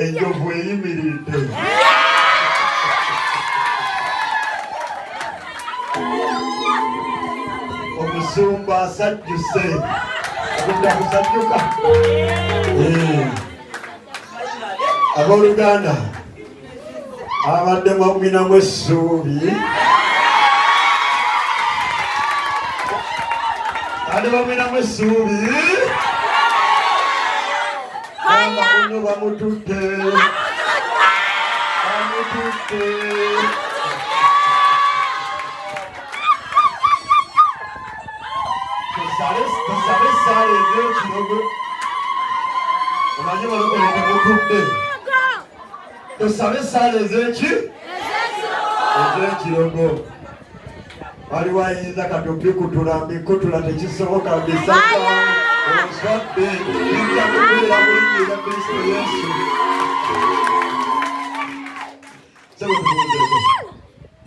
enjovu eyimiridde omusumba asajjuse kudda kusajjuka eh. abooluganda abadde mwagwinamu essuubi ate bamwinamu essuubi abakuno bamututte bamututte tusabe esaala ez'ekirogo omanyi balokoletemututte tusabe esaala ezeki ezekirogo waliwo ayinza kati okukutula mbikutula tekisoboka bisaka ozadde inza kubeera mulinyira kristo yesu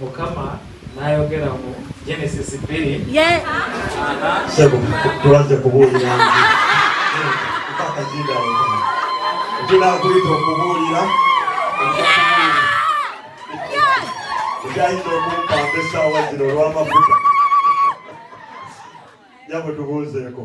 mukama nayogera mu genesis bbiri tuwaze kubuulira tunakulita okubuulira ekyayinza okumpamba essaawa zino olw'amafuta nyabo tubuuzeeko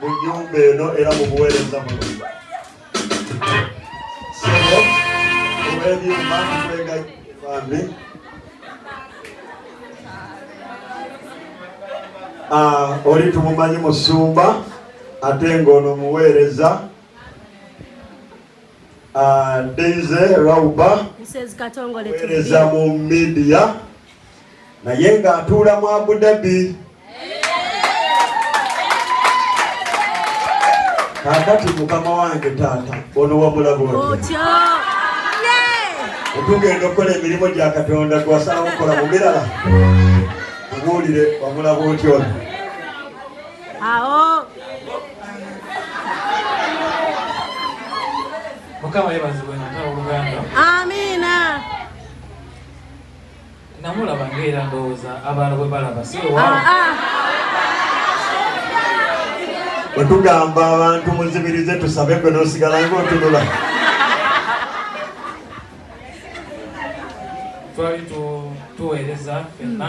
mu nnyumba eno era mu buweereza buno sebo olw'ebyuma tukwega bambi ah, oli tumumanyi musumba ate ng'ono muweereza ah, deize rauba weereza mu midiya naye ng'atuula mu Abu Dhabi. Kakati mukama wange taata ono wabula bwoti otugenda okukola emirimu gya Katonda gwasalawo okukola mu birala obuulire wabula bwoti ono awo mukama yebazibwe nataoluganda amiina namulaba ngaera ndowooza abantu bwe balaba si ah, ah. bwe tugamba abantu muzibirize tusabe gwe nosigala nga otunula twali tuweereza fenna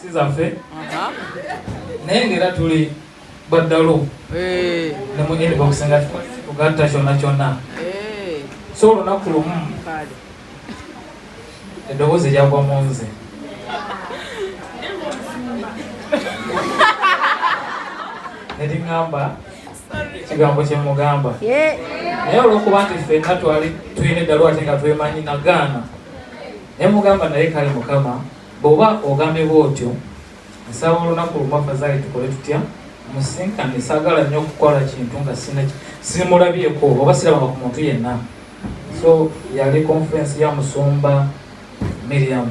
si zaffe naye ngaera tuli baddalu eh. ne mu inbox nga tugatta kyonna kyonna eh. so olunaku lumu eddoboozi lyagwa mu nze neriŋamba ekigambo kyemugamba naye olwokuba nti fenna twali tulina eddalu ate nga twemanyi nagaana nemugamba naye kale mukama Bw'oba ogambye bw'otyo, nsaba olunaku lumu afazaali tukole tutya? Musisinkane. Saagala nnyo okukola kintu nga simulabyeko oba sirabanga ku muntu yenna. So yali konferensi ya musumba Miriam.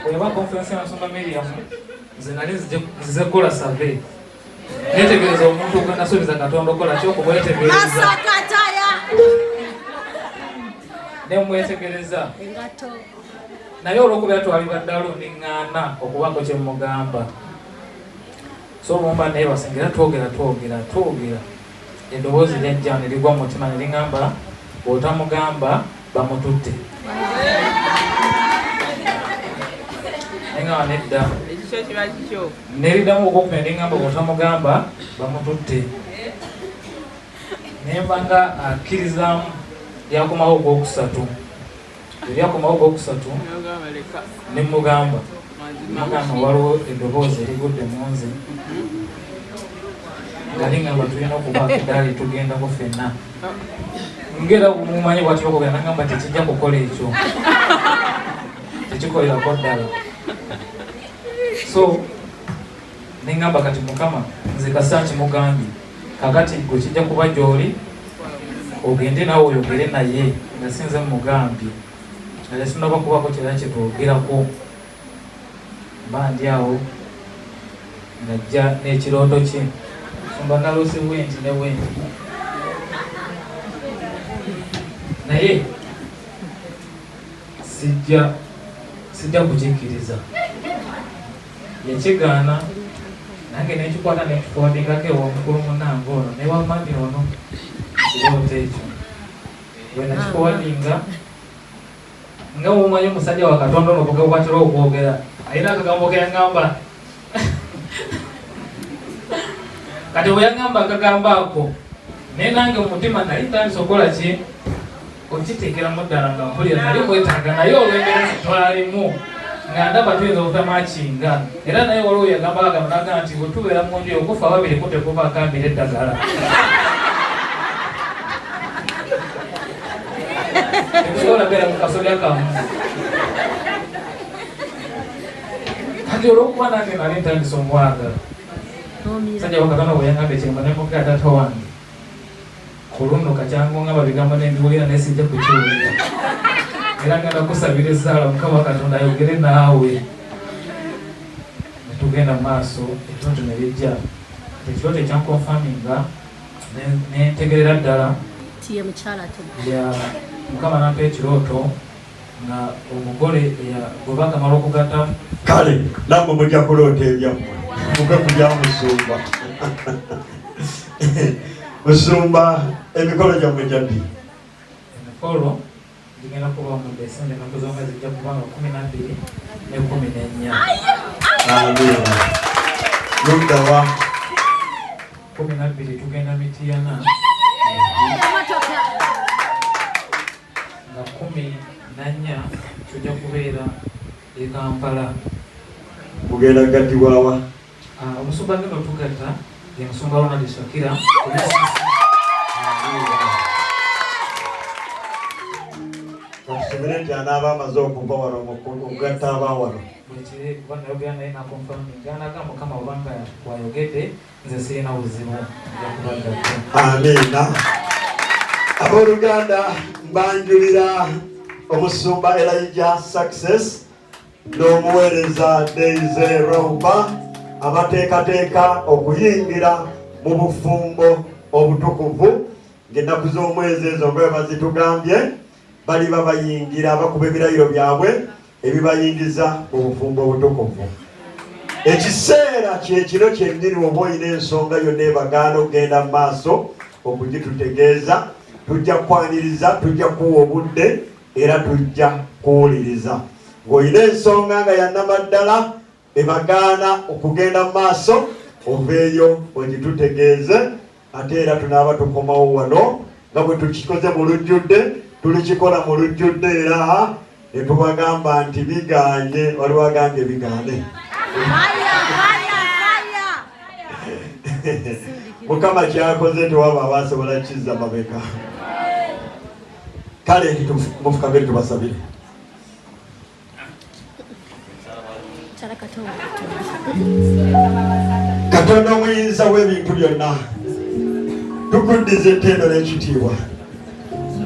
Bweba konferensi ya musumba Miriam, nze nali nzize kukola survey netegereza omuntu gwenasuubiza katonda okola ki okumwetegereza nemwetegereza naye olwokubeera twaliba ddalu niŋŋaana okubaako kye mugamba so mumba naye basengera twogera twogera twogera Eddoboozi lyajja ne ligwa mu mutima ne liŋamba, Bw'otamugamba bamututte. Naye nga nedda. Ne liddamu okukuma ne liŋamba, Bw'otamugamba bamututte. Ne mba nga akkirizaamu lyakomawo ogwokusatu. ebyakomawo gwokusatu ne mugamba mugamba waliwo eddoboozi erigudde mu nze nali ngamba tulina okuba dali tugendako fenna ngera mumanyi bwati bakogera nagamba tekijja kukola ekyo tekikolerako ddala so Nengamba kati mukama nze kasaaki mugambye kakati gwe kijja kuba gyoli ogende nawe oyogere naye nga sinze mugambye nale sinaba kubako kyera kyetwogerako mba ndi awo ngajja n'ekirooto kye sumba nalose wenti ne wenti naye sijja sijja kukikkiriza yakigaana nange nekikwata nekifondingako ewomukulu munange ono newamami ono kirooto ekyo bwenakifondinga nga womanyi omusajja wa katonda ono kugakwatira okwogera alina akagambo keyagamba kati bweyagamba akagambo ako naye nange mumutima nali ntandisa okukola ki okitegeeramu ddala nga mpulira nali mwetaaga naye olw'embeera zitwalimu nga ndaba tuyinza okutamu akinga era naye waliwo yagamba agamba naga nti bwe tubeera mu nju okufa babiri kutekuba akambira eddagala tekusobola beera mu kasolya kamu kati olwokuba nange nali ntandisa omwagala sajja wakatana bwe yangamba ekyemba nemugenda tawange Ku luno kati angongaba bigambo ne mbiwulira naye sijja kukiwulira era ngenda kusabira esaala mukama katonda ayogere naawe netugenda mu maaso ekiroto ne bijja ekiroto ekyankonfaminga nentegerera ddala mukama nampa ekirooto nga omugole eyagoba akamala okugata kale namwe mujja kuloota ebyammwe muke kulya musumba musumba emikolo gyammwe gyaddi emikolo gigenda kuba mu desemba ennaku zonga zijja kuba nga kumi nabbiri ne kumi nennya luddawa kumi nabbiri tugenda mitiyana nga kkumi na nnya tujja kubeera e Kampala. Mugenda kugattibwa wa? Ah, omusumba agenda otugatta ye musumba Ronald Shakira. Bakisubire nti anaaba amaze okuva wano okugatta aba wano. Buli kiri kuba nayogera naye nakonfirminga naga mukama obanga wayogedde Nze sirina buzibu nja kubagatta. Amiina. Abooluganda mbanjulira omusumba Elijah Success n'omuweereza Daisy Roba abateekateeka okuyingira mu bufumbo obutukuvu ng'ennaku z'omwezi ezo nga bwe bazitugambye baliba bayingira bakuba ebirayiro byabwe ebibayingiza mu bufumbo obutukuvu ekiseera kyekiro kyennyini oba olina ensonga yonna ebagaana okugenda mu maaso okugitutegeeza tujja kukwaniriza tujja kuwa obudde era tujja kuwuliriza ng'olina ensonga nga yanamaddala ne bagaana okugenda mu maaso oveeyo ogitutegeeze ate era tunaaba tukomawo wano nga bwe tukikoze mu lujjudde tulikikola mu lujjudde era ne tubagamba nti bigaanye waliwo agambye bigaane mukama kyakoze tewaba abasobola kizza mabeka kale nti mufukabere tubasabire katonda omuyinza w'ebintu byonna tukuddiza ettendo n'ekitiibwa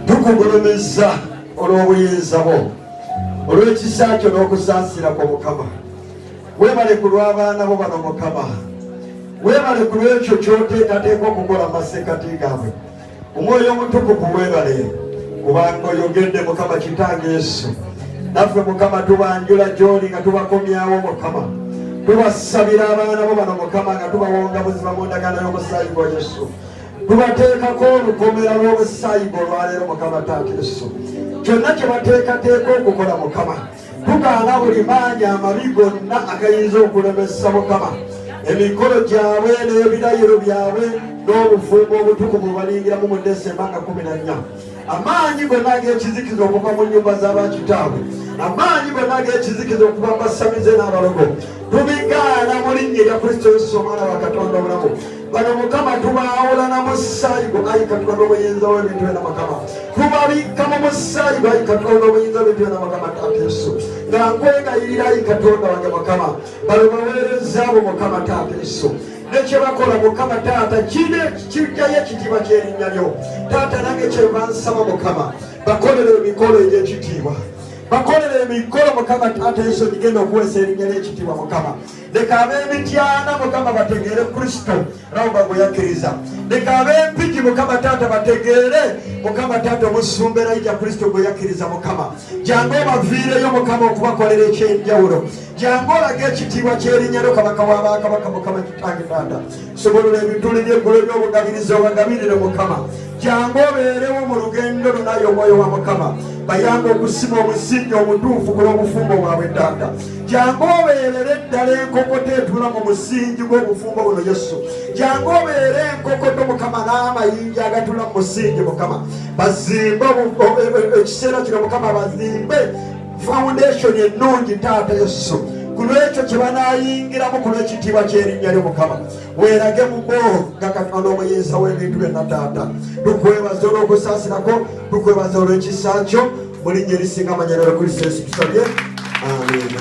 tukugulumiza olw'obuyinza bwo olw'ekisa kyo n'okusaasira kwo mukama webale ku lw'abaana bo bano mukama webale ku lw'ekyo kyoteekateeka okukola mu masekati gaabwe omwoyo omutukuvu webale kubanga oyogedde mukama kitange yesu naffe mukama tubanjula gyoli nga tubakomyawo mukama tubasabira abaana bo bano mukama nga tubawonga buzima mu ndagano y'omusaayi gwa yesu tubateekako olukomera lw'obusaayi gwe olwaleero mukama taata yesu kyonna kye bateekateeka okukola mukama Tugaana buli maanyi amabi gonna agayinza okulemesa Mukama emikolo gyabwe n'ebirayiro byabwe n'obufumbo obutukuvu balingiramu mu Desemba nga kumi na nnya amaanyi gonna ag'ekizikiza okuva mu nnyumba z'abakitaabwe amaanyi gonna ag'ekizikiza okuva mu basamize n'abalogo tubigaana mu linnya erya Kristo Yesu omwana wa Katonda obulamu bano mukama tubaawula na musaayi gwo ayi katonda obuyinza w'ebintu byona mukama tubabikka mu musaayi gwo ayi katonda obuyinza w'ebintu byona mukama taata yesu nga nkwegayirira ayi katonda wange mukama bano baweereza abo mukama taata yesu nekyebakola mukama taata kine kijjayo ekitiibwa kyerinnya lyo taata nange kyeva nsaba mukama bakolera emikolo egy'ekitiibwa bakolera emikolo mukama taata yesu gigenda okuweesa erinnya ly'ekitiibwa mukama leka ab'emityana mukama bategeere kristo rawuba gwe yakkiriza leka ab'empigi mukama taata bategeere mukama taata omusumba erayija kristo gwe yakkiriza mukama jangu obaviireyo mukama okubakolera ekyenjawulo jangu olaga ekitiibwa kyerinyalo kabaka wa bakabaka mukama kitange taata sobolula ebituli by'eggulu eby'obugabiriza obagabirire mukama jangu obeerewo mu lugendo lunayo omwoyo wa mukama bayanga okusima omusingi omutuufu ku lw'obufumbo bwabwe taata jangu obeerere ddala enkokoto etula mu musingi gw'obufumbo buno yesu jangu obeere enkokoto mukama n'amayinja agatula mu musingi mukama bazimbe e, e, e, ekiseera kino mukama bazimbe foundation ennungi taata yesu ku lwekyo kye banaayingiramu ku lw'ekitiibwa ky'erinnya lyo mukama weerage mubo nga katonda omuyinza w'ebintu byonna taata tukwebaza olw'okusaasirako tukwebaza olw'ekisa kyo mulinnya erisinga amanya nalokristo yesu tusabye amina